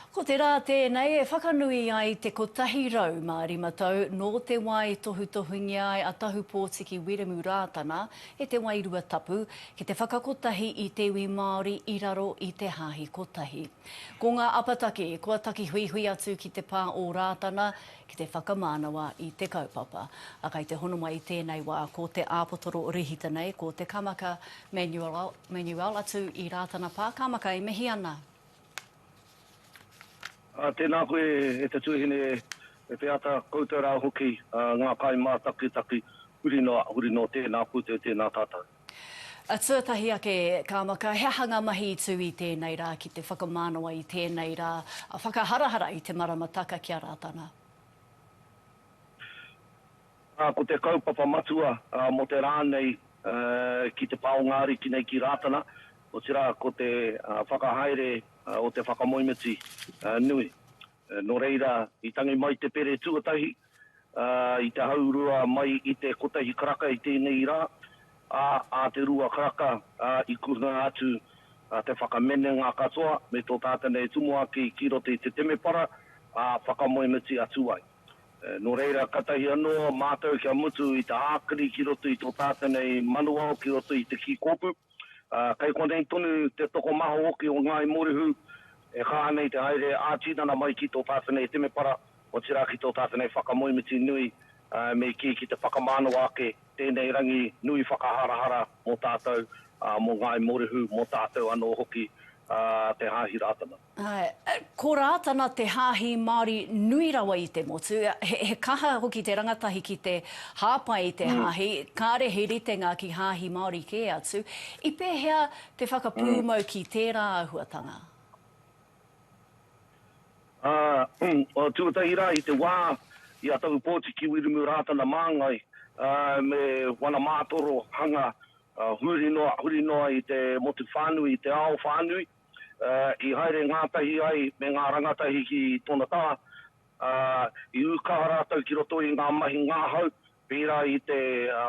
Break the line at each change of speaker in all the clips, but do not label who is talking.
Ko te rā tēnei e whakanui ai te 105 tau nō te wā i tohutohungia ai a Tahupōtiki Wiremu Rātana e te Wairua Tapu ki te whakakotahi i te iwi Māori i raro i te Hāhi Kotahi. Ko ngā apataki kua taki huihui atu ki te pā o Rātana ki te whakamānawa i te kaupapa. A kai te hono mai i tēnei wā ko te āpotoro rehita nei ko te Kamaka Manuel atu i Rātana Pā Kamaka e mihi ana.
Ā, tēnā koe, e te tuahine, e te ata, koutou rā hoki, ā, ngā kai mātakitaki, huri noa, huri noa, tēnā koutou, tēnā tātou. Ā,
tuatahi ake, ka maka, he aha ngā mahi i tū i tēnei rā, ki te whakamānawa i tēnei rā, ā, whakaharahara i te maramataka ki a Rātana.
Ā, ko te kaupapa matua mō te rā nei ki te pā o ngā ariki nei ki Rātana, otirā ko te whakahaere o te whakamoemiti nui. Nō reira, i tangi mai te pere tuatahi i te haurua mai i te kotahi karaka i tēnei rā, ā, ā te rua karaka i kuhunga atu te whakamenenga katoa me tō tātana e tumuaki ki roto i te temepara, ā, whakamoemiti atu ai. Nō reira, katahi anō mātou kia mutu i te ākiri ki roto i tō tātou nei manuao ki roto i te kī kōpū. Kei konei tonu te tokomaha hoki o Ngāi Morehu e kaha nei te haere ā-tinana mai ki tō tātou nei temepara, otirā ki tō tātou nei whakamoemiti nui, me kī ki te whakamānawa ake tēnei rangi nui whakaharahara mō tātou, mō Ngāi Morehu, mō tātou anō hoki, te Hāhi Rātana. Āe, ko
Rātana te hāhi Māori nui rawa i te motu. He kaha hoki te rangatahi ki te hāpai i te hāhi, kāre he ritenga ki hāhi Māori kē atu. I pēhea te whakapūmau ki tērā āhuatanga?
Āe, tuatahi rā i te wā i a Tahu Pōti ki Wiremu Rātana Māngai me wana mātoro hanga huri noa, huri noa i te motu whānui, i te ao whānui. i haere ngātahi ai me ngā rangatahi ki tōna taha, ā, i ū kaha rātou ki roto i ngā mahi ngahau, pērā i te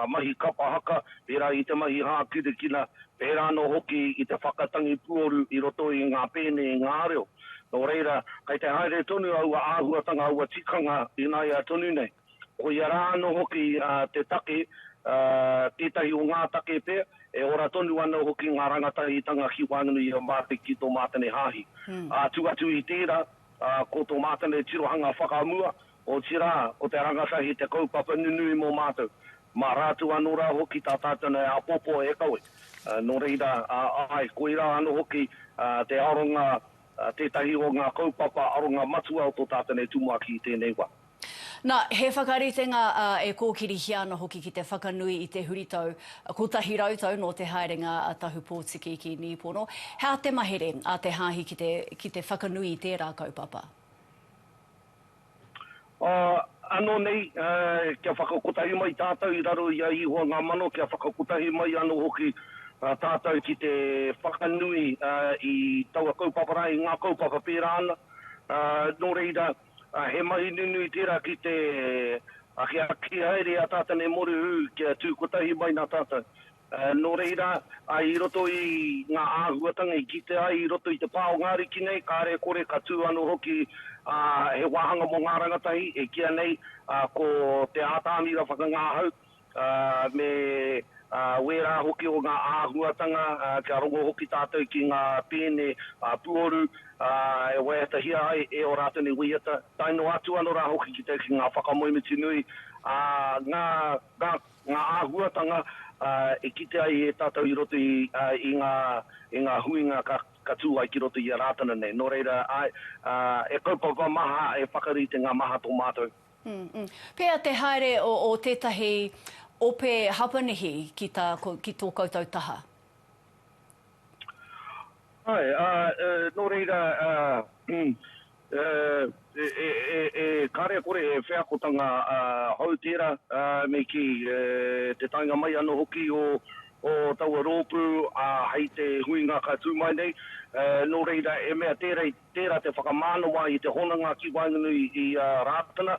mahi kapa haka, pērā i te mahi hākinakina, pērā anō hoki i te whakatangi puoru i roto i ngā pēne i ngā reo. Nō reira, kei te haere tonu aua āhuatanga, aua tikanga ināia tonu nei. Ko ia rā anō hoki te take, tētahi o ngā take pea, e ora tonu ana hoki ngā rangatahitanga ki waenganui i a Mātene ki tō Mātene Hāhi. Atu atu i tērā, ko tō Mātene tirohanga whakamua, otirā, ko te rangatahi te kaupapa nunui mō mātou. Mā rātou anō rā hoki tā tātou nei āpōpō e kawe. Nō reira, āe, koirā anō hoki te aronga, tētahi o ngā kaupapa aronga matua o tō tātou nei tumuaki i tēnei wā. Nā, he
whakaritenga ā, e kōkirihia ana hoki ki te whakanui i te huritau kotahi rau tau nō te haerenga a Tahu Pōtiki ki Nīpono. He aha te mahere a te hāhi ki te, ki te whakanui i tērā kaupapa?
Ā, anō nei, ā, kia whakakotahi mai tātou i raro i a Ihoa ngā mano, kia whakakotahi mai anō hoki tātou ki te whakanui, ā, i taua kaupapa rā, i ngā kaupapa pērā ana. Ā, nō reira, He mahi nunui tērā ki te akiaki haere i a tātou nei mōrehu kia tū kotahi mai nā tātou. Nō reira, i roto i ngā āhuatanga i kite ai i roto i te pā o ngā ariki nei, kāre e kore ka tū anō hoki he wāhanga mō ngā rangatahi e kīa nei ko te ātamira whakangahau, ā, me ā wērā hoki o ngā āhuatanga, ā, kia rongo hoki tātou ki ngā pēne ā puoru, ā, e waiatahia ai e ō rātou nei waiata, tae noa atu anō rā hoki ki te, ki ngā whakamoemiti nui, ā, ngā, ngā, ngā āhuatanga, ā, e kite ai e tātou i roto i, ā, i ngā, i ngā huinga ka, ka tū ai ki roto i a Rātana nei. Nō reira, āe, ā, e kaupapa maha, e whakarite ngā maha tō mātou. Pea
te haere o tetahi ope Hapanihi ki to koutou taha?
Ae, a, no reira, a, e kare kore he wheakotanga hou tera, me ki te taenga mai ano hoki o taua ropu hei te huinga ka tu mai nei, no reira e mea tera i Tērā te whakamānawa i te hononga ki waenganui i a Rātana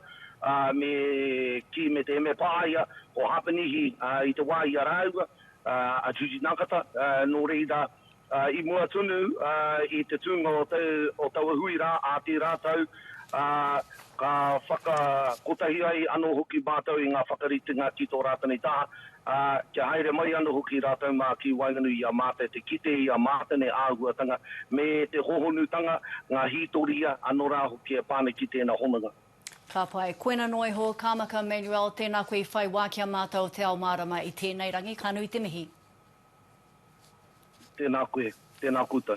me Ki me te Emepaia o Hapanihi i te wā i a rāua, a Judy Nakata, nō reira, i mua tonu i te tūnga o taua hui rā ā tērā tau, ka whakakotahi ai anō hoki mātou i ngā whakaritenga ki tō Rātana i taha. ā, kia haere mai anō hoki rātou mā ki waenganui i a mātou te kite i a mātou nei āhuatanga me te hohonutanga, ngā hītoria, anō rā hoki e pā ana ki tēnā hononga. Ka pai.
Koina noa iho, Kāmaka Manuel, tēnā koe i whai wā ki a mātou o Te Ao Mārama i tēnei rangi, ka nui
te mihi.
Tēnā koe,
tēnā
koutou.